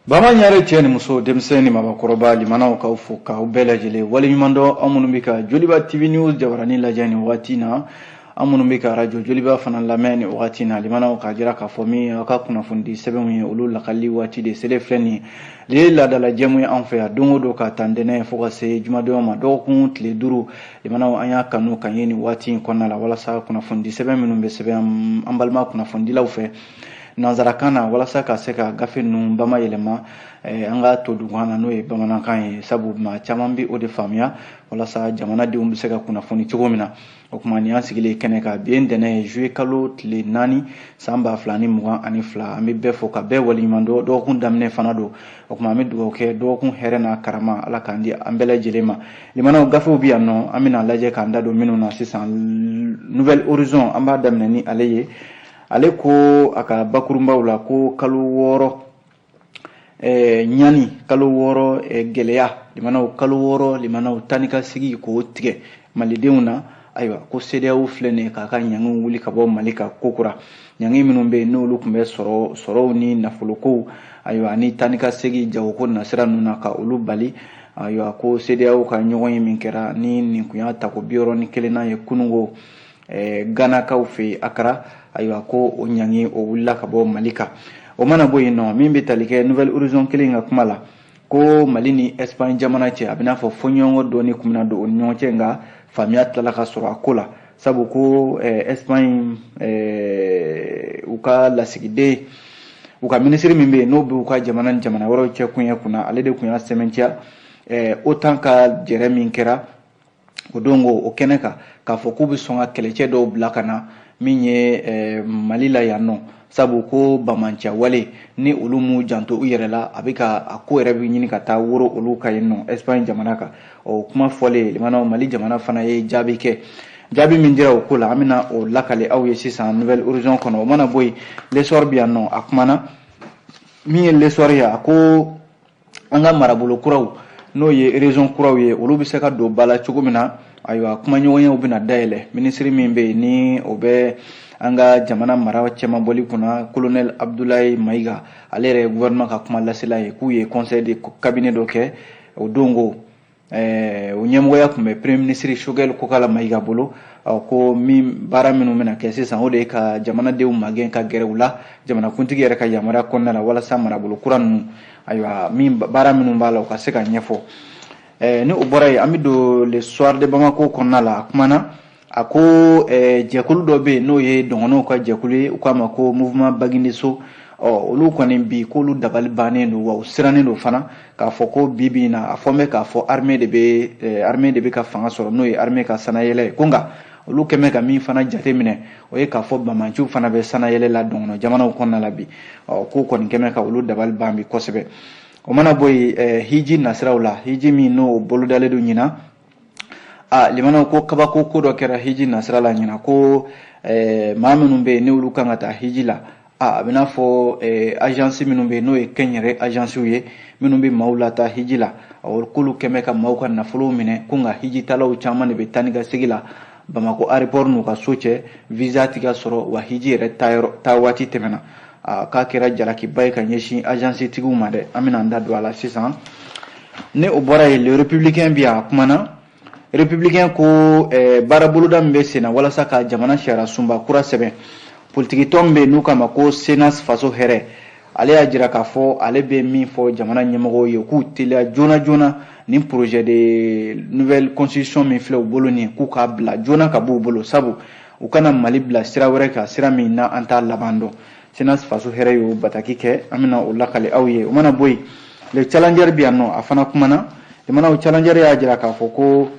Bama ɲare cɛ ni muso denmisɛnnin ni maabakɔrɔba limanaw k'aw fo k'aw bɛɛ lajɛlen waleɲumandɔn aw minnu bɛ ka joliba tv news jabaranin lajɛ nin wagati na aw minnu bɛ ka arajo joliba fana lamɛn nin wagati na limanaw k'a jira k'a fɔ min aw ka kunnafonidi sɛbɛnw ye olu lakali waati de selen filɛ nin de ye laadala jɛmu ye anw fɛ yan don o don k'a ta ntɛnɛn fo ka se jumadon ma dɔgɔkun tile duuru limanaw an y'a kanu ka ye nin waati in kɔnɔna la walasa kunnafonidi sɛbɛn minnu bɛ sɛbɛn an balima kunnafonidilaw fɛ nansarakan na walasa ka se ka gafe ninnu bama yɛlɛma eh, an ka to dugukan na n'o ye bamanankan ye sabu maa caman bɛ o de faamuya walasa jamanadenw bɛ se ka kunnafoni cogo min na o tuma nin an sigilen kɛnɛ kan bi ntɛnɛn ye zuye kalo tile naani san ba fila ni mugan ani fila an bɛ bɛɛ fo ka bɛɛ waleɲuman dɔn dɔgɔkun daminɛ fana don o tuma an bɛ dugawu kɛ dɔgɔkun hɛrɛ n'a karama ala k'a di an bɛɛ lajɛlen ma limanaw gafew bɛ yan nɔ an bɛna lajɛ k'an da don minnu na sisan nouvel horizon an b'a daminɛ ni ale ye ale ko a ka bakurunbaw la ko kalo wɔɔrɔ eh, ɲani kalo wɔɔrɔ eh, gɛlɛya limanaw kalo wɔɔrɔ limanaw taa ni ka segin ko tigɛ malidenw na ayiwa ko sedeyaw filɛ nin ye k'a ka ɲangiw wuli ka bɔ mali kan kokura ɲangi minnu bɛ yen n'olu tun bɛ sɔrɔw ni nafolokow ayiwa ani taa ni ka segin jagoko nasira ninnu na ka olu bali ayiwa ko sedeyaw ka ɲɔgɔnye min kɛra ni nin tun y'a tako bi wɔɔrɔ ni kelennan ye kununko ganakaw fɛ yen akara ayiwa ko o ɲangi o wulila ka bɔ mali kan o mana bɔ yen nɔ min bɛ tali kɛ nouvel horizon kelen ka kuma la ko mali ni espagne jamana cɛ a bɛn'a fɔ fɔɲɔgɔnkɔ dɔɔni tun bɛna don u ni ɲɔgɔn cɛ nka faamuya tilala ka sɔrɔ a ko la sabu ko espagne u ka lasigiden u ka minisiri min bɛ yen n'o bɛ u ka jamana ni jamana wɛrɛw cɛ koɲɛ kunna ale de tun y'a sɛmɛntiya otan ka jɛrɛ min kɛra o don ko o kɛnɛ kan k'a fɔ k'u bɛ sɔn ka kɛlɛcɛ dɔw bila ka na min ye eh, mali la yan nɔ sabu ko banbaanci wale ni olu m'u janto u yɛrɛ la a bɛ ka a ko yɛrɛ bɛ ɲini ka taa woro olu ka yen nɔ espagne jamana kan o kuma fɔlen limanaw mali jamana fana ye jaabi kɛ jaabi min dira o ko la an bɛna o lakali aw ye sisan nouvel horizon kɔnɔ o mana bɔ yen l'essor bɛ yan nɔ a kumana min ye l'essor ye a ko an ka marabolo kuraw n'o ye région kuraw ye olu bɛ se ka don ba la cogo min na ayiwa kumaɲɔgɔnyaw bɛna dayɛlɛ minisiri min bɛ yen ni o bɛ an ka jamana mara cɛmabɔli kunna kolonɛli abudulayi mayiga ale yɛrɛ ye gouvernement ka kuma lasela ye k'u ye conseil de cabinet dɔ kɛ o don ko Eh, o ɲɛmɔgɔya tun bɛ premier ministre sogɛli kokala mayiga bolo ko min baara minnu bɛna kɛ sisan o de ye ka jamanadenw magɛn ka gɛrɛ u la jamanakuntigi yɛrɛ ka yamaruya kɔnɔna na walasa marabolo kura ninnu ayiwa min baara minnu b'a la u ka se ka ɲɛfɔ eh, ni o bɔra yen an bɛ don le soir de bamako kɔnɔna la a kumana a ko eh, jɛkulu dɔ bɛ yen n'o ye dɔgɔnɔw ka jɛkulu ye u k'a ma ko mouvement bagindeso ɔ olu kɔni bi k'olu dabali bannen don wa u sirannen don fana k'a fɔ ko bi bi in na a fɔlen bɛ k'a fɔ armée de bɛ eh, armée de bɛ ka fanga sɔrɔ n'o ye armée ka sannayɛlɛn ye ko nka olu kɛlen bɛ ka min fana jateminɛ o ye k'a fɔ banbaanciw fana bɛ sannayɛlɛn la dɔgɔnɔ jamana kɔnɔna la bi ɔ k'u kɔni kɛlen bɛ ka olu dabali ban bi kosɛbɛ o mana bɔ yen eh, hiji nasiraw la hiji min n'o bolodalen don ɲinan a limanaw ko kabako ko dɔ kɛra hiji nasira la ɲinan ko eh, maa minnu bɛ yen n'olu kan ka taa hiji la a a bɛna fɔ eh, agence minnu bɛ yen n'o ye kɛnyɛrɛ agencew ye minnu bɛ maaw lataa hiji la k'olu kɛlen bɛ ka maaw ka nafolow minɛ ko nka hijitaalaw caman de bɛ taa ni ka segin la bamakɔ aéroport n'u ka so cɛ visa tɛ ka sɔrɔ wa hiji yɛrɛ taa waati tɛmɛna k'a kɛra jalakiba ye ka ɲɛsin agencetigiw ma dɛ an bɛna an da don a la sisan ni o bɔra yen le républicain bɛ yan a kumana républicain ko eh, baaraboloda min bɛ senna walasa ka jamana sariyasunba kura sɛbɛn politikitɔn min bɛ n'u k'a ma ko cnas faso hɛrɛ ale y'a jira k'a fɔ ale bɛ min fɔ jamana ɲɛmɔgɔw ye k'u teliya joona joona nin projet de nouvelle constitution min filɛ u bolo nin k'u k'a bila joona k'a b'u bolo sabu u kana mali bila sira wɛrɛ kan sira min na an t'a laban dɔn cnas faso hɛrɛ y'o bataki kɛ an bɛna o lakali aw ye o mana bɔ yen le challenger bɛ yan nɔ a fana kumana limanaw challenger y'a jira k'a fɔ ko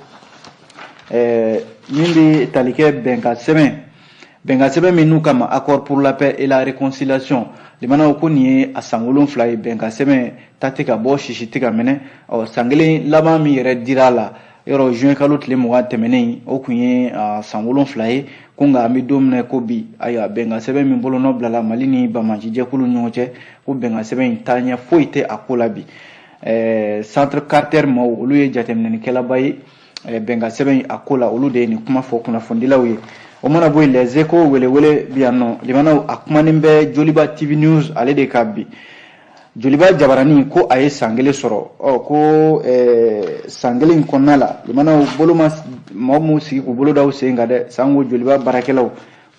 eh, min bɛ tali kɛ bɛnkansɛbɛn bɛnkansɛbɛn min n'u k'a ma accord pour la paix et la réconciliation limanaw ko nin ye a san wolonfila ye bɛnkansɛbɛn ta tɛ ka bɔ sisi tɛ ka mɛnɛ ɔ san kelen laban min yɛrɛ dira a la yɔrɔ juin kalo tile mugan tɛmɛnen o kun ye san wolonfila ye ko nka an bɛ don min ko bi ayiwa bɛnkansɛbɛn min bolonɔ bilala mali ni banbaanci jɛkulu ɲɔgɔn cɛ ko bɛnkansɛbɛn in taaɲɛ foyi tɛ a ko la bi centre carter maaw olu ye jateminɛlikɛlaba ye eh, bɛnkansɛbɛn a ko la olu de ye nin kuma fɔ kunnafonidilaw ye o mana bɔ yen les échos welewele bɛ yan nɔ limanaw a kumanen bɛ joliba tv news ale de kan bi joliba jabarani ko a ye san kelen sɔrɔ ɔ ko eh, san kelen kɔnɔna la limanaw bolo ma mɔgɔ minnu sigi k'u bolo da u sen kan dɛ sanko joliba baarakɛlaw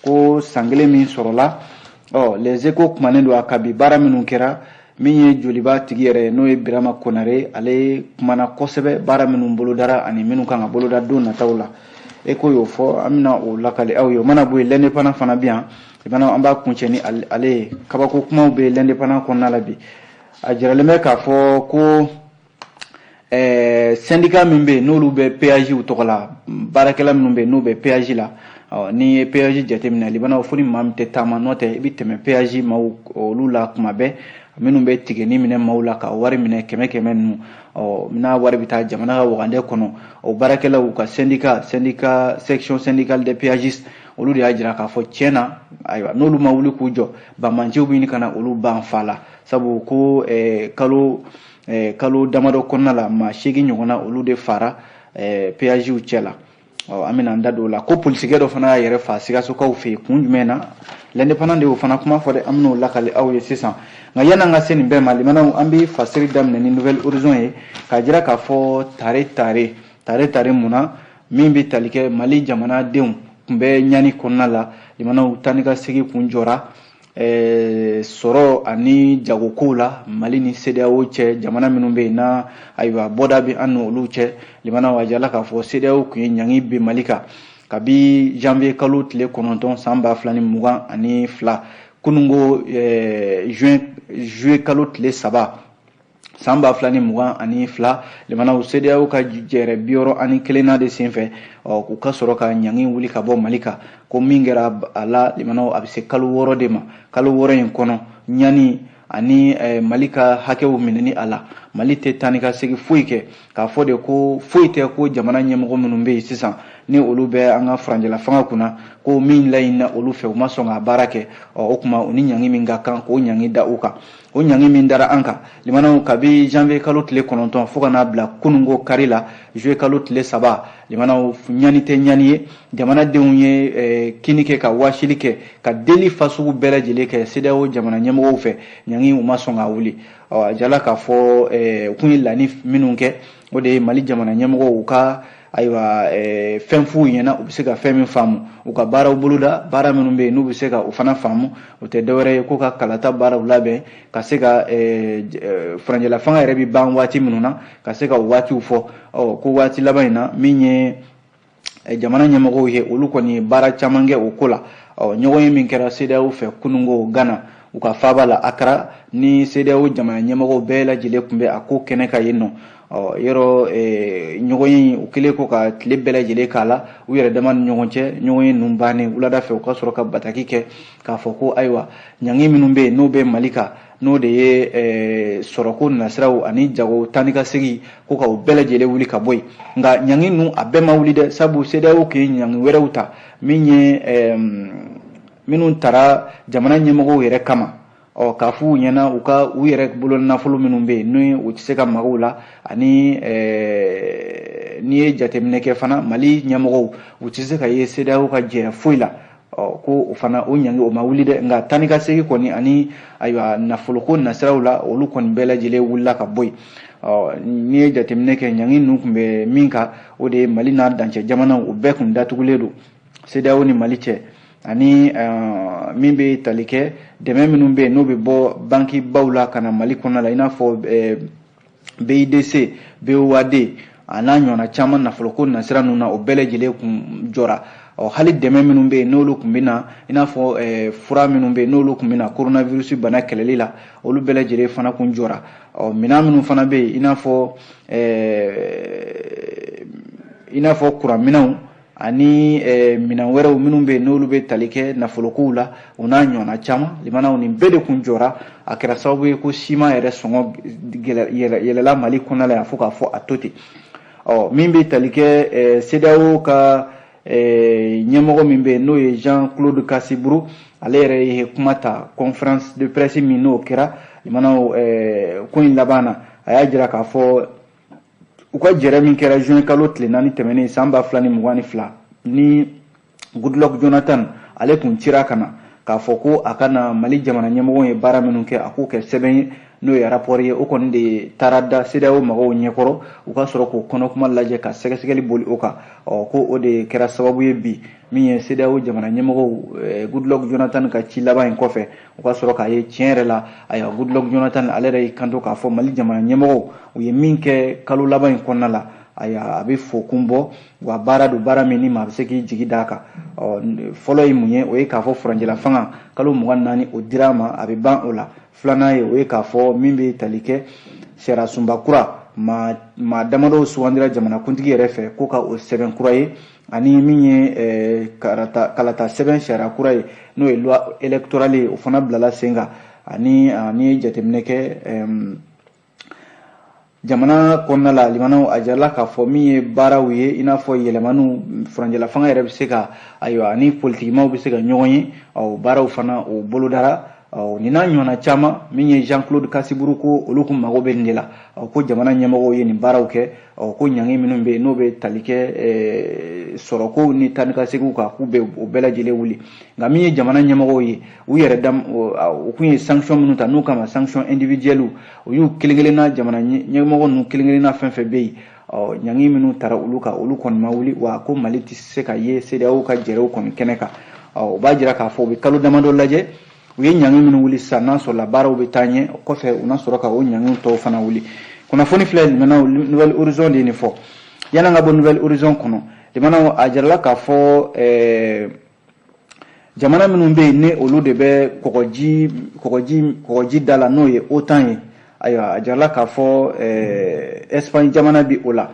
ko san kelen min sɔrɔla ɔ les échos kumanen don a kan bi baara minnu kɛra min ye joliba tigi yɛrɛ n'o ye birama konare ale kumana kosɛbɛ baara minnu bolodara ani minnu kan ka boloda don nataw la échos y'o fɔ an bɛna o lakali aw ye o mana bɔ yen l'indépendant fana bɛ yan i bana an b'a kuncɛ ni ale ye kabako kumaw bɛ l'indépendant kɔnɔna la bi a jiralen bɛ k'a fɔ ko ɛɛ sɛndika min bɛ yen n'olu bɛ peyaziw tɔgɔ la baarakɛla minnu bɛ yen n'u bɛ peyazi la n'i ye peyazi jateminɛ limanaw fo ni maa min tɛ taama n'o tɛ i bɛ tɛmɛ peyazi maaw olu la kuma bɛɛ minnu bɛ tikɛnin minɛ maaw la ka wari minɛ kɛmɛ kɛmɛ ninnu ɔ n'a wari bɛ taa jamana ka wagande kɔnɔ o baarakɛlaw ka sɛndika sɛndika section syndicale des péagistes olu de y'a jira k'a fɔ tiɲɛ na ayiwa n'olu ma wuli k'u jɔ banbaanciw bɛ ɲini ka na olu ban fa la sabu ko kalo eh, kalo damadɔ kɔnɔna la maa seegin ɲɔgɔnna olu de fara eh, peyaziw cɛ la ɔ an bɛna an da don o la ko polisikɛ dɔ fana y'a yɛrɛ fa sikasokaw fɛ yen kun jumɛn na l'indépendant de y'o fana kuma fɔ dɛ an bɛn'o lakali aw ye sisan nka yan'an ka se nin bɛɛ ma limanaw an bɛ fasiri daminɛ ni nouvel horizon ye k'a jira k'a fɔ tare tare tare tare mun na min bɛ tali kɛ mali jamanadenw kun bɛ ɲani kɔnɔna la limanaw taa ni ka segin kun jɔra sɔrɔ ani jagokow la mali ni sedeyawo cɛ jamana minnu bɛ yen na ayiwa bɔda bɛ an ni olu cɛ limanaw a jala k'a fɔ sedeyawo kun ye ɲangi bin mali kan kabi janvier kalo tile kɔnɔntɔn san ba fila ni mugan ani fila kunungo juin juillet kalo tile saba san ba fila ni mugan ani fila limanaw sedeyawo ka jɛrɛ bi wɔɔrɔ ani kelennan de senfɛ u ka sɔrɔ ka ɲangi wuli ka bɔ mali kan ko min kɛra a la limanaw a bɛ se kalo wɔɔrɔ de ma kalo wɔɔrɔ in kɔnɔ ɲani ani eh, mali ka hakɛw minɛni a la mali tɛ taa ni ka segin foyi kɛ k'a fɔ de ko foyi tɛ ko jamana ɲɛmɔgɔ minnu bɛ yen sisan ni olu bɛ an ka furancɛlafanga kunna ko min laɲinina olu fɛ u ma sɔn ka baara kɛ o tuma u ni ɲangi min ka kan k'o ɲangi da u kan o ɲangi min dara an kan limanaw kabi janvier kalo tile kɔnɔntɔn fɔɔ ka n'a bila kunungo kari la juillet kalo tile saba limanaw ɲani tɛ ɲani ye jamanadenw ye eh, kini kɛ ka waasili kɛ ka deli fasugu bɛɛ lajɛlen kɛ sedeyawo jamana ɲɛmɔgɔw fɛ ɲangi u ma sɔn k'a wuli a jala k'a fɔ eh, u kun ye laɲini minnu kɛ o de ye mali jamana ɲɛmɔgɔw ka ayiwa eh, fɛn f'u ɲɛna u bɛ se ka fɛn min faamu u ka baaraw boloda baara minnu bɛ yen n'u bɛ se ka o fana faamu o tɛ dɔwɛrɛ ye ko ka kalata baaraw labɛn ka se ka eh, eh, furancɛlafanga yɛrɛ bɛ ban waati minnu na ka se ka o waatiw fɔ ɔ ko waati laban in na min ye Eh, jamana ɲɛmɔgɔw ye olu kɔni ye baara caman kɛ o ko la ɲɔgɔnye min kɛra sedeyawo fɛ kunungo gana u ka faaba la akara ni sedeyawo jamana ɲɛmɔgɔw bɛɛ lajɛlen tun bɛ a ko kɛnɛ kan yen nɔ yɔrɔ eh, ɲɔgɔnye u kɛlen kɔ ka tile bɛɛ lajɛlen k'a la u yɛrɛ dama ni ɲɔgɔn cɛ ɲɔgɔnye ninnu bannen wulada fɛ u ka sɔrɔ ka bataki kɛ k'a fɔ ko ayiwa ɲangi minnu bɛ yen n'o bɛ mali kan n'o de ye eh, sɔrɔko nasiraw ani jago taa ni ka segin ko ka u bɛɛ lajɛlen wuli ka bɔ yen nka ɲangi ninnu a bɛɛ ma wuli dɛ sabu sedeyawo tun ye ɲangi wɛrɛw ta min ye eh, minnu taara jamana ɲɛmɔgɔw yɛrɛ kama ɔ k'a f'u ɲɛna u ka u yɛrɛ bolo nafolo minnu bɛ yen ni u tɛ se ka maga u la ani eh, n'i ye jateminɛ kɛ fana mali ɲɛmɔgɔw u tɛ se ka ye sedeyawo ka jɛrɛ foyi la ɔ ko o fana o ɲangi o ma wuli dɛ nka taa ni ka segin kɔni ani ayiwa nafoloko nasiraw la olu kɔni bɛɛ lajɛlen wulila ka bɔ yen ɔ n'i ye jateminɛ kɛ ɲangi ninnu tun bɛ min kan o de ye mali n'a dancɛ jamanaw o bɛɛ tun datugulen don sedeyawo ni mali cɛ ani eh, min bɛ tali kɛ dɛmɛ minnu bɛ yen n'o bɛ bɔ banki baw la ka na mali kɔnɔna la i n'a fɔ eh, BIDC, BOAD a n'a ɲɔgɔnna caman nafoloko nasira ninnu na o bɛɛ lajɛlen kun jɔra ɔ hali dɛmɛ minnu bɛ yen n'olu tun bɛ na i n'a fɔ eh, fura minnu bɛ yen n'olu tun bɛ na coronavirus bana kɛlɛli la olu bɛɛ lajɛlen fana kun jɔra ɔ minɛn minnu fana bɛ yen i n'a fɔ eh, i n'a fɔ kuranminɛnw ani eh, minɛn wɛrɛw minnu bɛ yen n'olu bɛ tali kɛ nafolokow la o n'a ɲɔgɔnna caman limanaw nin bɛɛ de kun jɔra a kɛra sababu ye ko siman yɛrɛ sɔngɔ yɛlɛla mali kɔnɔna la yan fo k'a fɔ a to ten ɔ min bɛ tali kɛ eh, CEDEAO ka eh, ɲɛmɔgɔ min bɛ yen n'o ye Jean Claude Kassi Brou ale yɛrɛ ye kuma ta conférence de presse min n'o kɛra limanaw ko in laban na a y'a jira k'a fɔ u ka jɛrɛ min kɛra juin kalo tile naani tɛmɛnen san ba fila ni mugan ni fila ni goodluck jonathan ale tun cira ka na k'a fɔ ko a ka na mali jamana ɲɛmɔgɔw ye baara minnu kɛ a k'o kɛ sɛbɛn ye n'o ye arapɔri ye o kɔni de taara da sedao mɔgɔw ɲɛkɔrɔ u ka sɔrɔ k'o kɔnɔkuma lajɛ ka sɛgɛsɛgɛli boli o kan ɔ ko o de kɛra sababu ye bi min ye CEDEAO jamana ɲɛmɔgɔw eh, Goodluck Jonathan ka ci laban in kɔfɛ u ka sɔrɔ k'a ye tiɲɛ yɛrɛ la ayiwa Goodluck Jonathan ale yɛrɛ y'i kanto k'a fɔ Mali jamana ɲɛmɔgɔw u ye min kɛ kalo laban in kɔnɔna la ayiwa a bɛ fo kun bɔ wa baara don baara min ni maa bɛ se k'i jigi d'a kan ɔ fɔlɔ ye mun ye o ye k'a fɔ furancɛlafanga kalo mugan naani o dira a ma a bɛ ban o la filanan ye o ye k'a fɔ min bɛ tali kɛ sariyasunba kura maa maa damadɔw sugandira jamanakuntigi yɛrɛ fɛ ko ka o sɛbɛn kura ye ani min ye eh, karata kalata sɛbɛn sariya kura ye n'o ye loi électorale ye o fana bilala sen kan ani ah, n'i ye jateminɛ kɛ jamana kɔnɔna la limanaw a jirala k'a fɔ min ye baaraw ye i n'a fɔ yɛlɛmaniw furancɛlafanga yɛrɛ bɛ se ka ayiwa ani politikimaw bɛ se ka ɲɔgɔn ye o baaraw fana o bolodara nin n'a ɲɔgɔnna caman min ye jean claude kassi brou ko olu kun mago bɛ nin de la ko jamana ɲɛmɔgɔw ye nin baaraw kɛ ɔ ko ɲangi minnu bɛ yen n'o bɛ tali kɛ eh, sɔrɔkow ni taa ni ka seginw kan k'u bɛ o bɛɛ lajɛlen wuli nka min ye jamana ɲɛmɔgɔw ye u yɛrɛ da u kun ye sanction minnu ta n'u kama sanction individuelle u y'u kelen kelenna jamana ɲɛmɔgɔ ninnu kelen kelenna fɛn fɛn bɛ yen ɔ ɲangi minnu tara olu kan olu kɔni ma wuli wa ko mali tɛ se ka ye cedeao ka jɛrɛw kɔni kɛnɛ kan ɔ o b'a jira k'a fɔ u bɛ kalo damadɔ lajɛ u ye ɲangi minnu wuli sisan n'a sɔrɔla baaraw bɛ taa ɲɛ o kɔfɛ u na sɔrɔ ka o ɲangi tɔw fana wuli kunnafoni filɛ limanaw nouvel horizon de ye nin fɔ yan'an ka bɔ nouvel horizon kɔnɔ limanaw a jirala k'a fɔ eh, jamana minnu bɛ yen ni olu de bɛ kɔgɔji da la n'o ye otan ye ayiwa a jirala k'a fɔ eh, espagne jamana bi o la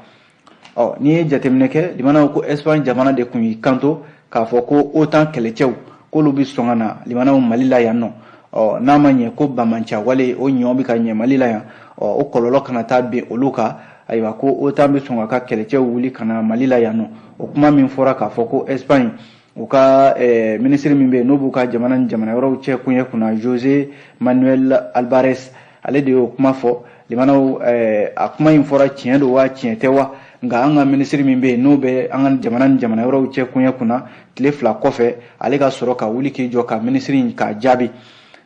ɔ n'i ye jateminɛ kɛ limanaw ko espagne jamana de kun y'i kanto k'a fɔ ko otan kɛlɛcɛw k'olu bɛ sɔn ka na limanaw mali la yan nɔ ɔ n'a ma ɲɛ ko banbaanciya wale o ɲɔ bɛ ka ɲɛ mali la yan ɔ o kɔlɔlɔ kana taa bin olu kan ayiwa ko otan bɛ sɔn k'a ka kɛlɛcɛw wuli ka na mali la yan nɔ o kuma min fɔra k'a fɔ ko espagne u ka eh, minisiri min bɛ yen n'o b'u ka jamana ni jamana wɛrɛw cɛ koɲɛ kunna jose manuel albares ale de y'o kuma fɔ limanaw eh, a kuma in fɔra tiɲɛ don wa tiɲɛ tɛ wa nka an ka minisiri min bɛ yen n'o bɛ an ka jamana ni jamana wɛrɛw cɛ koɲɛ kunna tile fila kɔfɛ ale ka sɔrɔ ka wuli k'i jɔ ka minisiri in k'a jaabi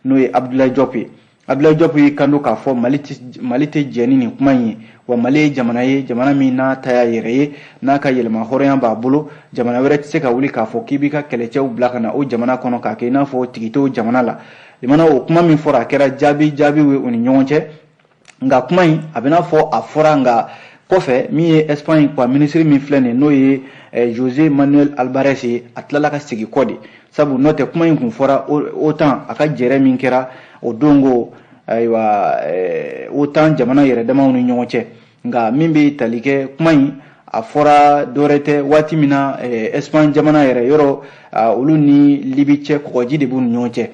n'o ye abdoulaye diop ye Abdoulaye Diop y'i kanto k'a fɔ Mali tɛ Mali tɛ jɛ ni nin kuma in ye wa Mali ye jamana ye jamana min n'a ta y'a yɛrɛ ye n'a ka yɛrɛmahɔrɔnya b'a bolo jamana wɛrɛ tɛ se ka wuli k'a fɔ k'i b'i ka kɛlɛcɛw bila ka na o jamana kɔnɔ k'a kɛ i n'a fɔ tigi t'o jamana la limana o kuma min fɔra a kɛra jaabi jaabiw ye u ni ɲɔgɔn cɛ nka kuma in a bɛna fɔ a fɔra nka kɔfɛ min ye Espagne ka minisiri min filɛ nin ye n'o ye eh, Jose Manuel Albares ye a tilala ka segin kɔ de sabu n'o tɛ kuma in kun fɔra otan a ka jɛrɛ min kɛra o don ko ayiwa eh, otan jamana yɛrɛ damaw ni ɲɔgɔn cɛ nka min bɛ tali kɛ kuma in a fɔra dɔwɛrɛ tɛ waati min na eh, espagne jamana yɛrɛ yɔrɔ olu ni libi cɛ kɔgɔji de b'u ni ɲɔgɔn cɛ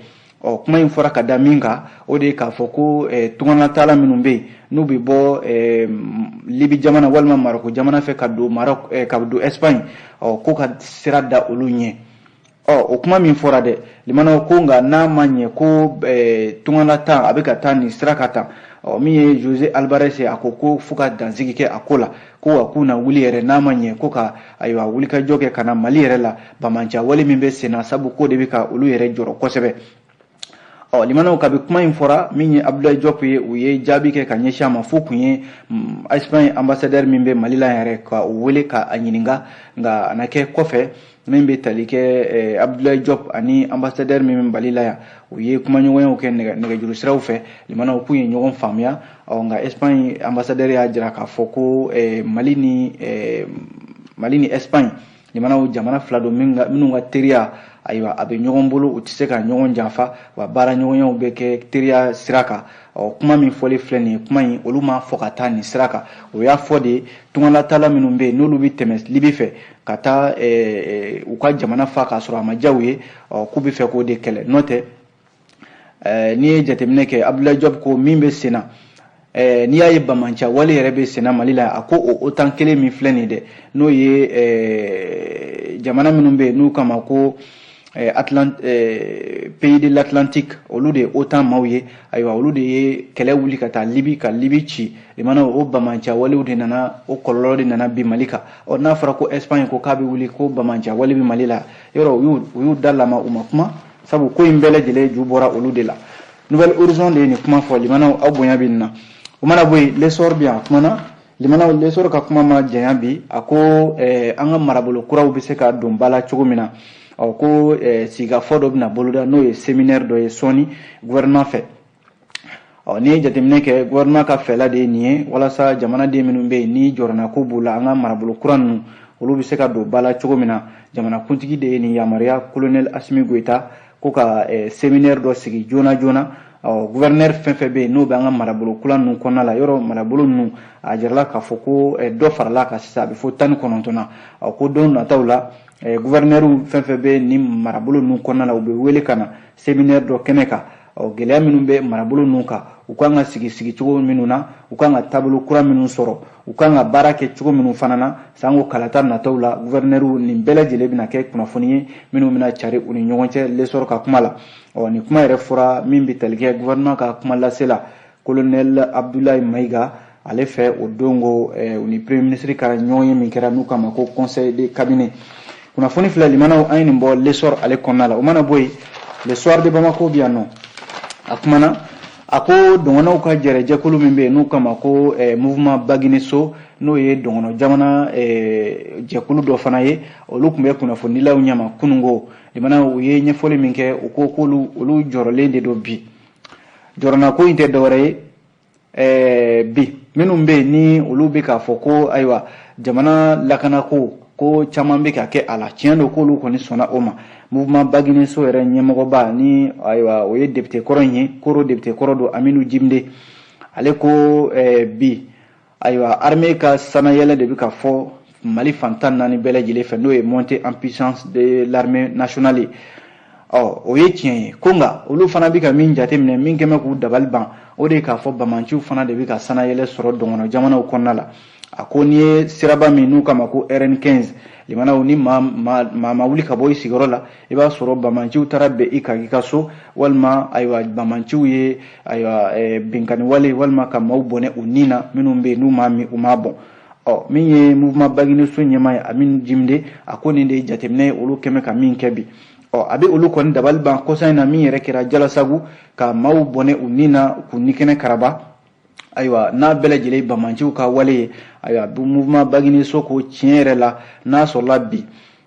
ɔ kuma in fɔra ka da min kan o de ye k'a fɔ ko eh, tunganataala minnu bɛ yen n'u bɛ bɔ eh, libi jamana walima maroko jamana fɛ ka don maroc eh, ka don espagne ɔ ko ka sira da olu ɲɛ ɔ o kuma min fɔra dɛ limanaw ko nka n'a ma ɲɛ ko ɛɛ tungalataa a bɛ ka taa nin sira kan tan ɔ min ye jose albares ye a ko ko fo ka dansigi kɛ a ko la ko wa k'u na wuli yɛrɛ n'a ma ɲɛ ko ka ayiwa wulikajɔ kɛ ka na mali yɛrɛ la banbaanciya wale min bɛ senna sabu k'o de bɛ ka olu yɛrɛ jɔrɔ kosɛbɛ ɔ limanaw kabi kuma in fɔra min ye abdulayi jɔp ye u ye jaabi kɛ ka ɲɛsin a ma fo k'u ye mm, espagne ambassadeur min bɛ mali la yɛrɛ ka u wele ka a ɲininka nka a na kɛ kɔfɛ min bɛ tali kɛ eh, abdulayi jɔp ani ambassadeur min bɛ mali la yan u ye kumaɲɔgɔnyaw kɛ nɛgɛjuru siraw fɛ limanaw k'u ye ɲɔgɔn faamuya ɔ nka espagne ambassadeur y'a jira k'a fɔ ko eh, mali ni eh, mali ni espagne limanaw jamana fila don minnu ka teriya ayiwa a bɛ ɲɔgɔn bolo u tɛ se ka ɲɔgɔn janfa wa baara ɲɔgɔnyaw bɛ kɛ teriya sira kan ɔ kuma min fɔlen filɛ nin ye kuma in olu m'a fɔ ka taa nin sira kan o y'a fɔ de tungalataala minnu bɛ yen n'olu bɛ tɛmɛ libi fɛ ka taa u ka jamana fa k'a sɔrɔ a ma diya u ye ɔ k'u bɛ fɛ k'o de kɛlɛ n'o tɛ n'i ye jateminɛ kɛ abdulayi jɔp ko min bɛ sen na n'i y'a ye banbaanciya wale yɛrɛ bɛ sen na mali la a ko otan kelen min filɛ nin dɛ n'o ye jamana minnu bɛ yen n'u k'a ma ko pays de l'atlantique olu de ye otan maaw ye ayiwa olu de ye kɛlɛ wuli ka taa libi ka libi ci limanaw o banbaanciya walew de nana o kɔlɔlɔ de nana bi mali kan ɔ n'a fɔra ko espagne ko k'a bɛ wuli ko banbaanciya wale bɛ mali la yɔrɔ u y'u da lama u ma kuma sabu ko in bɛɛ lajɛlen ju bɔra olu de la nouvel horizon de ye nin kuma fɔ limanaw aw bonya bɛ nin na o mana bɔ yen lesɔr bɛ yan a kumana limanaw lesɔr ka kuma ma janya bi a ko eh, an ka marabolo kuraw bɛ se ka don ba la cogo min na ɔ ko eh, sigikafɔ dɔ bɛna boloda n'o ye seminɛri dɔ ye sɔɔni gouvernement fɛ ɔ n'i ye jateminɛ kɛ guvɛrinɛman ka fɛla de ye nin ye walasa jamanaden minnu bɛ yen ni jɔrɔnanko b'u la an ka marabolo kura ninnu olu bɛ se ka don ba la cogo min na jamanakuntigi de ye nin yamaruya kolonɛli asimi goyita ko ka eh, seminɛri dɔ sigi joona joona ɔ guvɛrinɛri fɛn fɛn bɛ yen n'o bɛ an ka marabolo kura ninnu kɔnɔna la yɔrɔ marabolo ninnu a jirala k'a fɔ ko eh, dɔ farala kan sisan a bɛ fo tan ni kɔnɔntɔn na ɔ ko don nataw la eh, guvɛrinɛriw fɛn fɛn bɛ nin marabolo ninnu kɔnɔna la u bɛ wele ka na seminɛri dɔ kɛnɛ kan ɔ gɛlɛya minnu bɛ marabolo ninnu kan u kan ka sigi sigi cogo minnu na u kan ka taabolo kura minnu sɔrɔ u kan ka baara kɛ cogo minnu fana na sanko kalata nataw la guvɛrinɛriw nin bɛɛ lajɛlen bɛna kɛ kunnafoni ye minnu bɛna cari u ni ɲɔgɔn cɛ lesɔrɔ ka kuma la ɔ nin kuma yɛrɛ fɔra min bɛ tali kɛ guvɛrinɛman ka kumalasela kolonɛl abdulayi mayiga ale fɛ o don ko eh, u ni premier ministre ka ɲɔgɔnye min kɛra n'u k'a ma ko conseil de cabinet kunnafoni filɛ limanaw an ye nin bɔ lesɔr ale kɔnɔna la o mana bɔ yen le soir de bamako bɛ yan ɔ a kumana a ko dɔgɔnɔw ka yɛrɛ jɛkulu min bɛ yen n'u k'a ma ko eh, mouvement baguine so n'o ye dɔgɔnɔ jamana eh, jɛkulu dɔ fana ye olu tun bɛ kunnafonidilaw ɲɛma kunun ko limana u ye ɲɛfɔli min kɛ u ko k'olu olu jɔrɔlen de don bi jɔrɔnako in tɛ dɔwɛrɛ ye eh, bi minnu bɛ yen ni olu bɛ k'a fɔ ko ayiwa jamana lakanako ko caman bɛ ka kɛ a la tiɲɛ don k'olu kɔni sɔnna o ma mouvement bagineso yɛrɛ ɲɛmɔgɔba ni ayiwa o ye depite kɔrɔ in ye koro depite kɔrɔ don hamidu jimde ale ko eh, bi ayiwa armée ka sannayɛlɛ de bɛ ka fɔ mali fan tan ni naani bɛɛ lajɛlen fɛ n'o ye montée en puissance de l'armée nationale ye ɔ o ye tiɲɛ ye ko nka olu fana bɛ ka min jateminɛ min kɛlen bɛ k'u dabali ban o de ye k'a fɔ bamanciw fana de bɛ ka sannayɛlɛ sɔrɔ dɔgɔnɔ jamanaw kɔnɔna la a ko n'i ye siraba min n'u k'a ma ko rn 15 limanaw ni maa ma wuli ka bɔ i sigiyɔrɔ la i b'a sɔrɔ bamanciw taara bin i kan i ka so walima ayiwa bamanciw ye ayiwa eh, binkanniwale walima ka maaw bɔnɛ u ni na minnu bɛ yen n'u m'a min u m'a bɔn ɔ min ye mouvement bagineso ɲɛmaa ye hamidu jimde a ko nin de ye jateminɛ ye olu kɛlen bɛ ka min kɛ bi ɔ a bɛ olu kɔni dabali ban kɔsa in na min yɛrɛ kɛra jalasagu ka maaw bɔnɛ u ni na k'u nikɛnɛ karaba ayiwa n'a bɛɛ lajɛlen bamanciw ka wale ye ayiwa mouvement bagineso ko tiɲɛ yɛrɛ la n'a sɔrɔla bi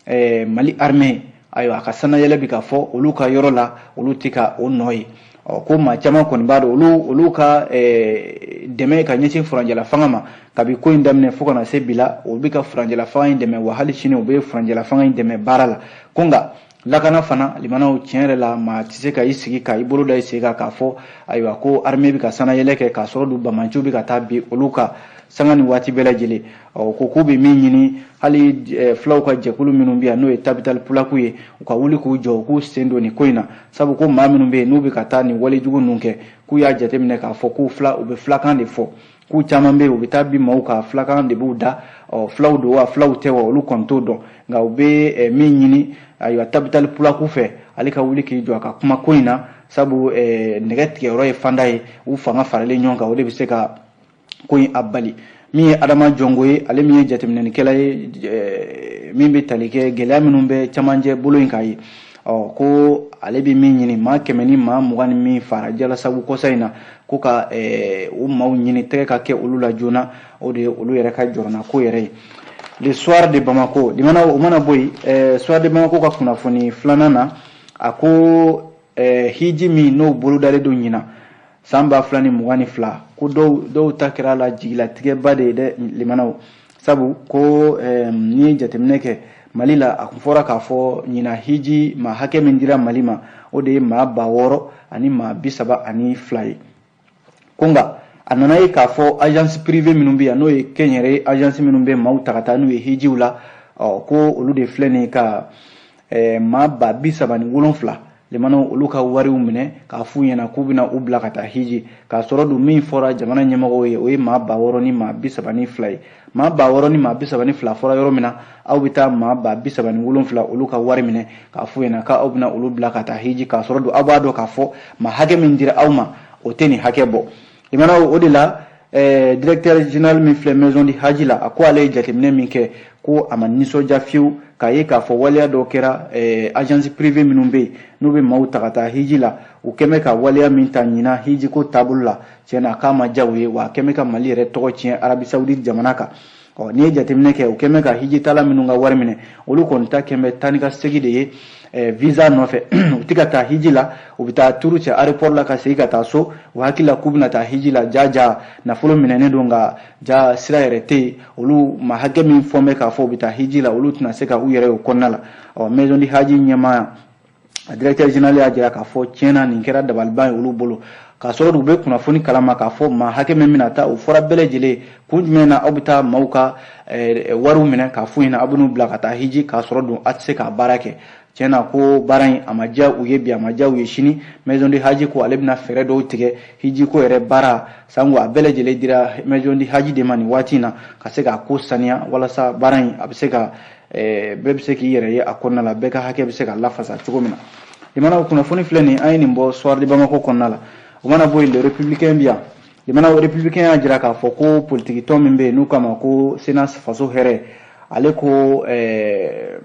eh, mali armée ayiwa a ka sannayɛlɛ bi ka fɔ olu ka yɔrɔ la olu tɛ ka o nɔ ye ɔ ko maa caman kɔni b'a dɔn olu olu ka eh, dɛmɛ ka ɲɛsin furancɛla fanga ma kabi ko in daminɛ fo ka na se bi la o bɛ ka furancɛla fanga in dɛmɛ wa hali sini u bɛ furancɛla fanga in dɛmɛ baara la ko nka lakana fana limanaw tiɲɛ yɛrɛ la maa tɛ se ka i sigi ka i bolo da i sen kan k'a fɔ ayiwa ko armée bɛ ka sannayɛlɛ kɛ k'a sɔrɔ dun bamanciw bɛ ka taa bin olu kan sanga ni waati bɛɛ lajɛlen ɔ ko k'u bɛ min ɲini hali eh, fulaw ka jɛkulu minnu bɛ yan n'o ye tabitali pulaku ye u ka wuli k'u jɔ u k'u sen don nin ko in na sabu ko maa minnu bɛ yen n'u bɛ ka taa nin walejugu ninnu kɛ k'u y'a jateminɛ k'a fɔ k'u fila u bɛ filakan de fɔ k'u caman bɛ yen u bɛ taa bin maaw kan fulakan de b'u da ɔ fulaw don wa fulaw tɛ wa olu kɔni t'o dɔn nka u bɛ eh, min ɲini ayiwa tabitali pulaku fɛ ale ka wuli k'i jɔ a ka kuma ko in na sabu eh, nɛgɛ tigɛyɔrɔ ye fanda ye u fanga faralen ɲɔgɔn kan o de bɛ se ka ko in a bali min ye adama jɔngo ye ale min ye jateminɛlikɛla ye eh, min bɛ tali kɛ gɛlɛya minnu bɛ camancɛ bolo in kan ye ɔ ko ale bɛ min ɲini maa kɛmɛ ni maa mugan ni min faara jalasagu kɔsa in na ko ka eh, o maaw ɲini tɛgɛ ka kɛ olu la joona o de ye olu yɛrɛ ka jɔrɔnako yɛrɛ ye le soir de bamako limana o mana bɔ yen eh, soir de bamako ka kunnafoni filanan na a ko eh, hiji min n'o bolodalen don ɲinan san ba fila ni mugan ni fila ko dɔw dɔw ta kɛra la jigilatigɛba de ye dɛ limanaw sabu ko n'i ye jateminɛ kɛ mali la a kun fɔra k'a fɔ ɲinan hiji maa hakɛ min dira mali ma o de ye maa ba wɔɔrɔ ani maa bi saba ani fila ye ko nka a nana ye k'a fɔ agence privée minnu bɛ yan n'o ye kɛnyɛrɛ agence minnu bɛ maaw ta ka taa n'u ye hijiw la ɔ ko olu de filɛ nin ye ka eh, maa ba bi saba ni wolonfila limanaw olu ka wariw minɛ k'a f'u ɲɛna k'u bɛna u bila ka taa hiji k'a sɔrɔ dun min fɔra jamana ɲɛmɔgɔw ye o ye maa ba wɔɔrɔ ni maa bi saba ni fila ye maa ba wɔɔrɔ ni maa bi saba ni fila fɔra yɔrɔ min na aw bɛ taa maa ba bi saba ni wolonfila olu ka wari minɛ k'a f'u ɲɛna k'aw bɛna olu bila ka taa hiji k'a sɔrɔ dun aw b'a dɔn k'a fɔ maa hakɛ min dira aw ma o tɛ nin hakɛ bɔ limana o de la eh, directeur général min filɛ maison du haji la a ko ale ye jateminɛ min kɛ ko a ma nisɔndiya fiyewu k'a ye k'a fɔ waleya dɔ kɛra eh, agence privée minnu bɛ yen n'u bɛ maaw ta ka taa hiji la u kɛn bɛ ka waleya min ta ɲinan hijiko taabolo la tiɲɛ na k'a ma diya u ye wa a kɛn bɛ ka mali yɛrɛ tɔgɔ tiɲɛ arabie saoudite jamana kan ɔ n'i ye jateminɛ kɛ u kɛn bɛ ka hijitaala minnu ka wari minɛ olu kɔni ta kɛn bɛ taa ni ka segi de ye eh, visa nɔfɛ u tɛ ka taa hiji la u bɛ taa tour kɛ aéroport la ka segi ka taa so u hakili la k'u bɛna taa hiji la jaa jaa nafolo minɛnen don nka jaa sira yɛrɛ tɛ yen olu maa hakɛ min fɔn bɛ k'a fɔ u bɛ taa hiji la olu tɛna se ka u yɛrɛ y'o kɔnɔna la ɔ maison du haji ɲɛmaa a directeur général y'a jira k'a fɔ tiɲɛ na nin kɛra dabaliban ye olu bolo k'a sɔrɔ u bɛ kunnafoni kala ma k'a fɔ maa hakɛ min bɛna taa o fɔra bɛɛ lajɛlen kun jumɛn na aw bɛ taa maaw ka eh, wariw minɛ k'a f'u ɲɛna aw bɛn'u bila ka taa hiji k'a sɔrɔ dun a tɛ se k'a baara kɛ tiɲɛ na ko baara in a ma diya u ye bi a ma diya u ye sini maison du haji ko ale bɛna fɛɛrɛ dɔw tigɛ hiji ko yɛrɛ baara sanko a bɛɛ lajɛlen dira maison du haji de ma nin waati in na ka se k'a ko saniya walasa baara in a bɛ se ka bɛɛ bɛ se k'i yɛrɛ ye a kɔnɔna la bɛɛ ka hakɛ bɛ se ka lafasa cogo min na limana o kunnafoni filɛ nin an ye nin bɔ soir de Bamako kɔnɔna la o mana bɔ yen le républicain bɛ yan limana o républicain y'a jira k'a fɔ ko politiki tɔn min bɛ yen n'u k'a ma ko CNAS faso hɛrɛ ale ko ɛɛ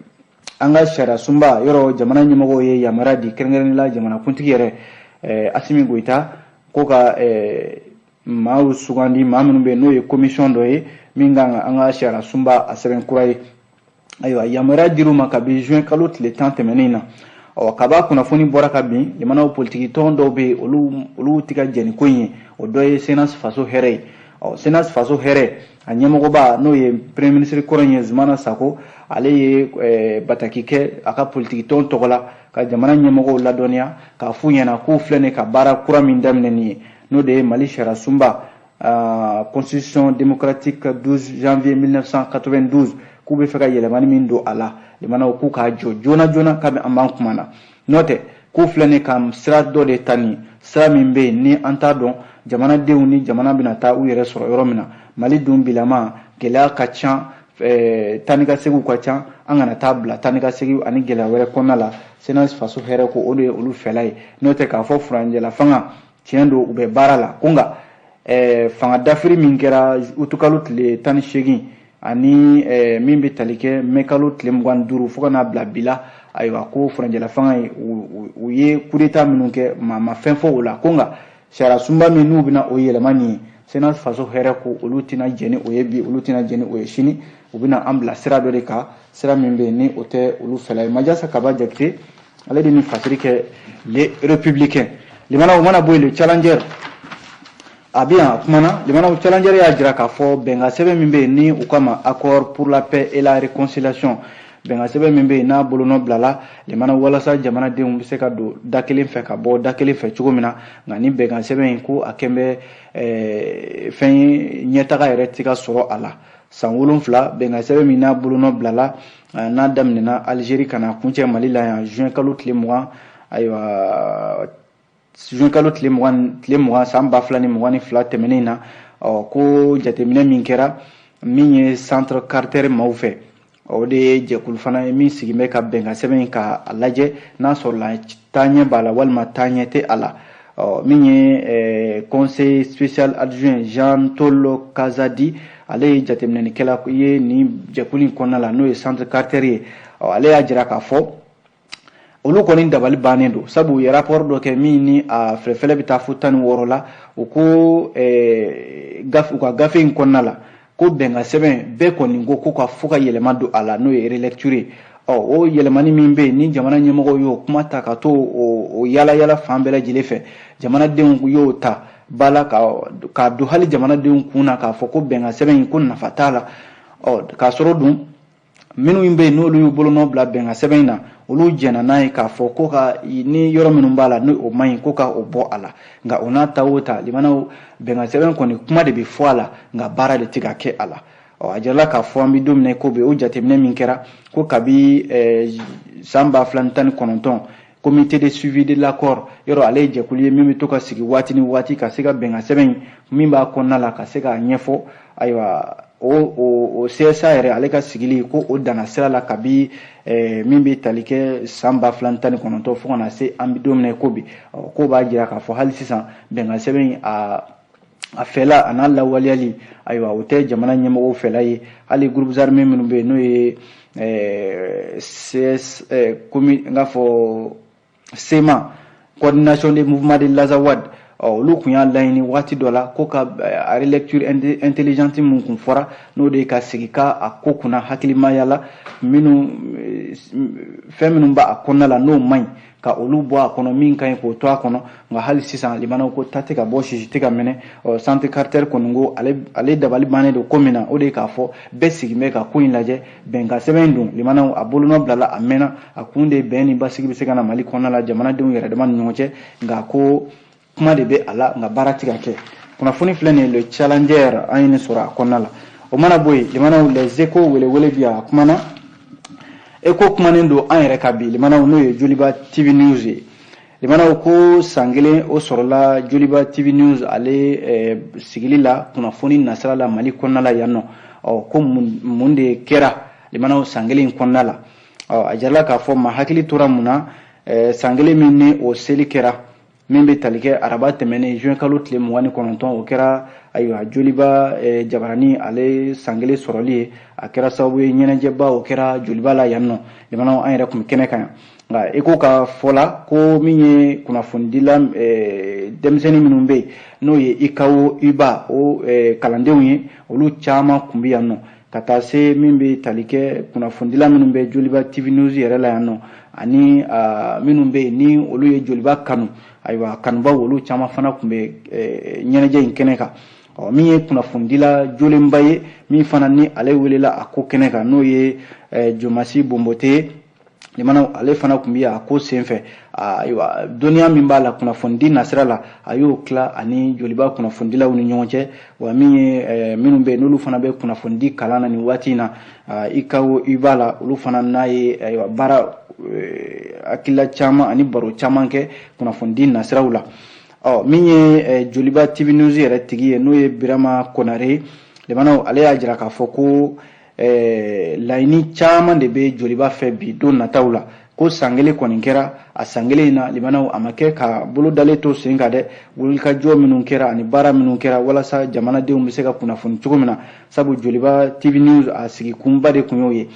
an ka sariya sunba yɔrɔ jamana ɲɛmɔgɔw ye yamaruya di kɛrɛnkɛrɛnnenya la jamanakuntigi yɛrɛ ɛɛ Asimi Goyita ko ka ɛɛ maaw sugandi maa minnu bɛ yen n'o ye komisiyɔn dɔ ye min kan ka an ka sariya sunba a sɛbɛn kura ye ayiwa yamaruya dir'u ma kabi juin kalo tile tan tɛmɛnen na ɔ kab'a kunnafoni bɔra ka bin jamana politiki tɔn dɔw bɛ olu olu tɛ ka jɛn ni ko in ye o dɔ ye CNAS faso hɛrɛ ye ɔ CNAS faso hɛrɛ a ɲɛmɔgɔba n'o ye premier ministre kɔrɔ in ye zumana sako ale ye eh, bataki kɛ a ka politiki tɔn tɔgɔ la ka jamana ɲɛmɔgɔw ladɔnniya k'a f'u ɲɛna k'u filɛ nin ka baara kura min daminɛ nin ye n'o de ye mali sariyasunba ah, constitution démocratique 12 janvier 1992 k'u bɛ fɛ ka yɛlɛmani min don a la limanaw k'u k'a jɔ joona joona kabi an b'an kuma na n'o tɛ k'u filɛ nin ka sira dɔ de ta nin sira min bɛ yen ni an t'a dɔn jamanadenw ni jamana bɛna taa u yɛrɛ sɔrɔ yɔrɔ min na mali dun bilama gɛlɛya ka ca eh, taa ni ka segiw ka ca an kana taa bila taa ni ka segiw ani gɛlɛya wɛrɛ kɔnɔna la CNAS faso hɛrɛ ko o de ye olu fɛla ye n'o tɛ k'a fɔ furancɛla fanga tiɲɛ don u bɛ baara la ko nka eh, fanga dafiri min kɛra utukalo tile tan ni seegin ani eh, min bɛ tali kɛ mɛkalo tile mugan ni duuru fo ka n'a bila bi la ayiwa ko furancɛla fanga ye u ye kudeta minnu kɛ maa ma fɛn fɔ o la ko nka sariya sunba min n'u bɛna o yɛlɛma nin ye CNAS faso hɛrɛ ko olu tɛna jɛn ni o ye bi olu tɛna jɛn ni o ye sini u bɛna an bila sira dɔ de kan sira min bɛ yen ni o tɛ olu fɛla ye majasa kaba jakite ale de ni fasiri kɛ le républicain limana o mana bɔ yen le challenger a bɛ yan a kumana limana challenger y'a jira k'a fɔ bɛnkan sɛbɛn min bɛ yen ni u k'a ma accord pour la paix et la réconciliation bɛnkan sɛbɛn min bɛ yen n'a bolonɔ bilala limana walasa jamanadenw bɛ se ka don da kelen fɛ ka bɔ da kelen fɛ cogo min na nka ni bɛnkan sɛbɛn in ko a kɛn bɛ eh, fɛn ye ɲɛtaga yɛrɛ tɛ ka sɔrɔ a la san wolonfila bɛnkan sɛbɛn min n'a bolonɔ bilala n'a daminɛna alizeri ka na kuncɛ mali la yan juin kalo tile mugan ayiwa juin kalo tile mugan san ba fila ni mugan ni fila tɛmɛnen na ɔ ko jateminɛ min kɛra min ye centre carter maaw fɛ o de ye jɛkulu fana ye min sigin bɛ ka bɛnkan sɛbɛn in ka a lajɛ n'a sɔrɔla taaɲɛ b'a la walima taaɲɛ tɛ a la ɔ min ye conseil spécial adjoint jean tolo kazadi ale ye jateminɛnikɛla ye nin jɛkulu in kɔnɔna la n'o ye centre carter ye ɔ ale y'a jira k'a fɔ olu kɔni dabali bannen don sabu u ye rapport dɔ kɛ min ni a fɛlɛfɛlɛ bɛ taa fo tan ni wɔɔrɔ la u ko u ka gafe in kɔnɔna la ko bɛnkan sɛbɛn bɛɛ kɔni ko ko ka fo ka yɛlɛma don a la n'o ye relecture ye ɔ o yɛlɛmani min bɛ yen ni jamana ɲɛmɔgɔw y'o kuma ta ka to o yala yala fan bɛɛ lajɛlen fɛ jamanadenw y'o ta ba la k'a don hali jamanadenw kun na k'a fɔ ko bɛnkan sɛbɛn in ko nafa t'a la ɔ k'a sɔrɔ dun minnu bɛ yen n'olu y'u bolonɔ bila bɛnkan sɛbɛn in na olu jɛnna n'a ye k'a fɔ ko ka ni yɔrɔ minnu b'a la ni o man ɲi ko ka o bɔ a la nka o n'a ta o ta limana bɛnkan sɛbɛn kɔni kuma de bɛ fɔ a la nka baara de tɛ ka kɛ a la ɔ a jirala k'a fɔ an bɛ don min na ko bi o jateminɛ min kɛra ko kabi san ba fila ni tan ni kɔnɔntɔn comité de suivi de l'accord yɔrɔ ale ye jɛkulu ye min bɛ to ka sigi waati ni waati ka se ka bɛnkan sɛbɛn min b'a kɔnɔna la ka se k'a ɲɛfɔ ayiwa o o CSA yɛrɛ ale ka sigili ko o danna sira la kabi eh, min bɛ tali kɛ san ba fila ni tan ni kɔnɔntɔn fo ka na se an bɛ don min na i ko bi k'o b'a jira k'a fɔ hali sisan bɛnkan sɛbɛn in a a fɛla a n'a lawaleyali ayiwa o tɛ jamana ɲɛmɔgɔw fɛla ye hali groupes armés minnu bɛ yen n'o ye eh, CS eh, komi n k'a fɔ CMA coordination des mouvements de l'azawad olu kun y'a laɲini waati dɔ la ko ka a relecture intelligente min kun fɔra n'o de ye ka sigi ka a ko kunna hakilimaya la minnu fɛn minnu b'a kɔnɔna la n'o man ɲi ka olu bɔ a kɔnɔ min ka ɲi k'o to a kɔnɔ nka hali sisan limanaw ko ta tɛ ka bɔ sisi tɛ ka minɛ ɔ centre carter kɔni ko ale dabali bannen don ko min na o de ye k'a fɔ bɛɛ sigin bɛ ka ko in lajɛ bɛnkan sɛbɛn dun limanaw a bolonɔ bilala a mɛnna a kun de bɛn ni basigi bɛ se ka na mali kɔnɔna la jamanadenw yɛrɛ dama ni ɲɔgɔn cɛ nka ko kuma de bɛ a la nka baara tɛ ka kɛ kunnafoni filɛ nin ye le challenger an ye nin sɔrɔ a kɔnɔna la o mana bɔ yen limanaw les échos welewele bi a kumana échos kumanen don an yɛrɛ ka bi limanaw n'o ye joliba tv news ye limanaw ko san kelen o sɔrɔla joliba tv news ale eh, sigili la kunnafoni nasira la mali kɔnɔna la yan nɔ ɔ ko mun de kɛra limanaw san kelen kɔnɔna la ɔ a jirala k'a fɔ maa hakili tora mun na eh, san kelen min ni o seli kɛra min bɛ tali kɛ araba tɛmɛnen juin kalo tile mugan ni kɔnɔntɔn o kɛra ayiwa joliba eh, jabarani ale san kelen sɔrɔli ye a kɛra sababu ye ɲɛnajɛba o kɛra joliba la yan nɔ limanaw an yɛrɛ kun bɛ kɛnɛ kan yan nka échos ka fɔ la ko min ye kunnafonidila eh, denmisɛnnin minnu bɛ yen n'o ye ucao uuba o eh, kalandenw ye olu caman kun bɛ yan nɔ ka taa se min bɛ tali kɛ kunnafonidila minnu bɛ joliba tv news yɛrɛ la yan nɔ ani minnu bɛ yen ni olu ye joliba kanu ayiwa kanubaw olu caman fana kun bɛ ɲɛnajɛ in kɛnɛ kan ɔ min ye kunnafonidila jolenba ye min fana ni ale welela a ko kɛnɛ kan n'o ye jomansi bonbote limanaw ale fana kun bɛ a ko senfɛ ayiwa dɔnniya min b'a la kunnafonidi nasira la a y'o tila ani joliba kunnafonidilaw ni ɲɔgɔn cɛ wa min ye eh, minnu bɛ yen n'olu fana bɛ kunnafonidi kalan na nin waati in na ah, ucao uuba la olu fana n'a ye ayiwa baara eh, hakilila caman ani baro caman kɛ kunnafonidi nasiraw la ɔ min ye eh, joliba tv news yɛrɛ tigi ye n'o ye birama konare limanaw ale y'a jira k'a fɔ ko eh, laɲini caman de bɛ joliba fɛ bi don nataw la ko san kelen kɔni kɛra a san kelen in na limanaw a ma kɛ ka bolo dalen to sen kan dɛ wulikajɔ minnu kɛra ani baara minnu kɛra walasa jamanadenw bɛ se ka kunnafoni cogo min na sabu joliba tv news a sigi kunba de kun y'o ye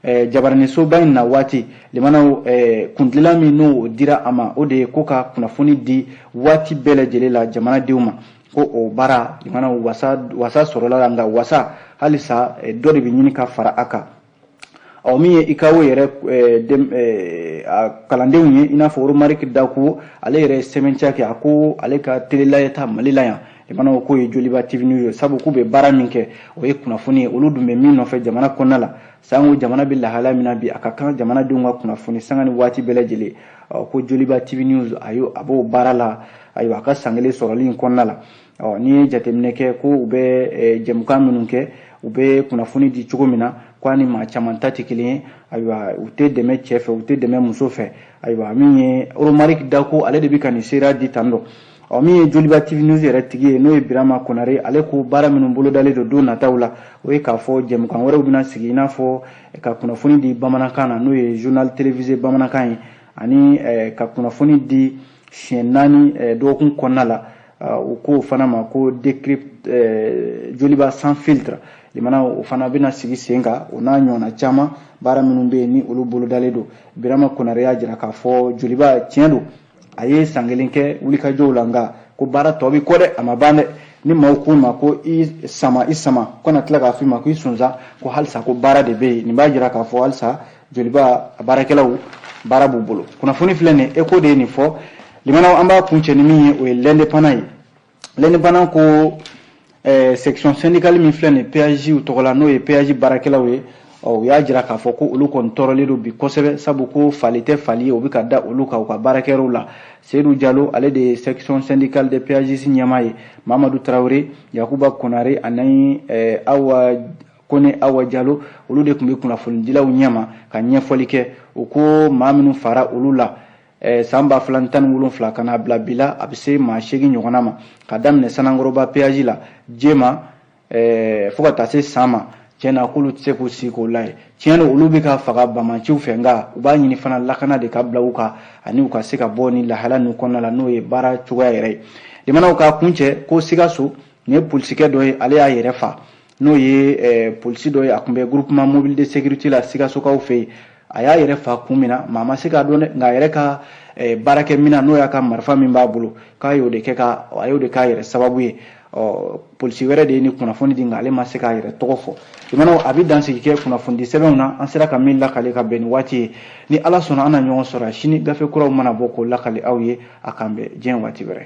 eh, jabaranisoba in na waati limanaw eh, kuntilenna min n'o dira a ma o de ye ko ka kunnafoni di waati bɛɛ lajɛlen la jamanadenw ma ko o baara limanaw wasa sɔrɔla a la nka wasa halisa eh, dɔ de bɛ ɲini ka fara a kan ɔ min ye ucao yɛrɛ eh, eh, a kalandenw ye i n'a fɔ romariki dakuwo ale yɛrɛ ye sɛmɛntiya kɛ a ko ale ka tele lajɛta mali la yan limanaw k'o ye joliba tv news ye sabu k'u bɛ baara min kɛ o ye kunnafoni ye olu dun bɛ min nɔfɛ jamana kɔnɔna la Sango jamana bɛ lahala min na bi a ka kan jamanadenw ka kunnafoni sanga ni waati bɛɛ lajɛlen ko joliba TV news a y'o a b'o baara la ayiwa a ka san kelen sɔrɔli in kɔnɔna la ɔ n'i ye jateminɛ kɛ ko u bɛ jɛmukan minnu kɛ u bɛ kunnafoni di cogo min na k'a ni maa caman ta tɛ kelen ye ayiwa u tɛ dɛmɛ cɛ fɛ u tɛ dɛmɛ muso fɛ ayiwa min ye Romarik Dako ale de bɛ ka nin seereya di tan dɔ ɔ min ye joliba tv news yɛrɛ tigi ye n'o ye birama konare ale ko baara minnu bolodalen don don nataw la o ye k'a fɔ jɛmukan wɛrɛw bɛna sigi i n'a fɔ eh, ka kunnafoni di bamanankan na n'o ye journal télévisé bamanankan ye ani eh, ka kunnafoni di siɲɛ naani eh, dɔgɔkun kɔnɔna la u k'o fana ma ko decrypt joliba sans filtre limana o fana bɛna sigi sen kan o n'a ɲɔgɔnna caman baara minnu bɛ yen ni olu bolodalen don birama konare y'a jira k'a fɔ joliba tiɲɛ don a ye san kelen kɛ wulikajɔw la nka ko baara tɔ bɛ kɔ dɛ a ma ban dɛ ni maaw k'u ma ko i sama i sama ko kana tila k'a f'i ma ko i sonsan ko halisa ko baara de bɛ yen nin b'a jira k'a fɔ halisa joliba a baarakɛlaw baara b'u bolo kunnafoni filɛ nin ye Échos de ye nin fɔ limanaw an b'a kun cɛ ni min ye o ye L'Indépendant ye L'Indépendant ko eh, section syndicale min filɛ nin peyajiw tɔgɔ la n'o ye peyaji baarakɛlaw ye u y'a jira k'a fɔ ko olu kɔni tɔɔrɔlen don bi kosɛbɛ sabu ko fali tɛ fali ye o bɛ ka da olu kan u ka baarakɛyɔrɔw la seyidu jalo ale de ye section syndicale des péages ɲɛmaa ye mamadu tarawele yakuba konare ani eh, awa kone awa jalo olu de tun bɛ kunnafonidilaw ɲɛma ka ɲɛfɔli kɛ u ko maa minnu faara olu la Eh, san ba fila ni tan ni wolonfila ka n'a bila bi la a bɛ se maa seegin ɲɔgɔnna ma ka daminɛ sanankɔrɔba peyaji la jema eh, fo ka taa se san ma tiɲɛ na k'olu tɛ se k'u sigi k'o lajɛ tiɲɛ don olu bɛ ka faga banbaanciw fɛ nka u b'a ɲini fana lakana de ka bila u kan ani u ka se ka bɔ nin lahala ninnu kɔnɔna la n'o ye baara cogoya yɛrɛ ye limanaw k'a kun cɛ ko sikaso nin ye polisikɛ dɔ ye ale y'a yɛrɛ fa n'o ye eh, polisi dɔ ye a tun bɛ groupement mobile de sécurité la sikasokaw fɛ yen a y'a yɛrɛ fa kun min na maa ma se k'a dɔn dɛ nka a yɛrɛ ka eh, baarakɛminɛn n'o y'a ka marifa min b'a bolo k'a y'o de kɛ ka a y'o de k'a yɛrɛ sababu ye ɔ polisi wɛrɛ de ye nin kunnafoni di nka ale ma se k'a yɛrɛ tɔgɔ fɔ jamanaw an bɛ dansigi kɛ kunnafonidi sɛbɛnw na an sera ka min lakale ka bɛn ni waati ye ni ala sɔnna an na ɲɔgɔn sɔrɔ sini gafe kuraw mana bɔ k'o lakale aw ye a k'an bɛn diɲɛ waati wɛrɛ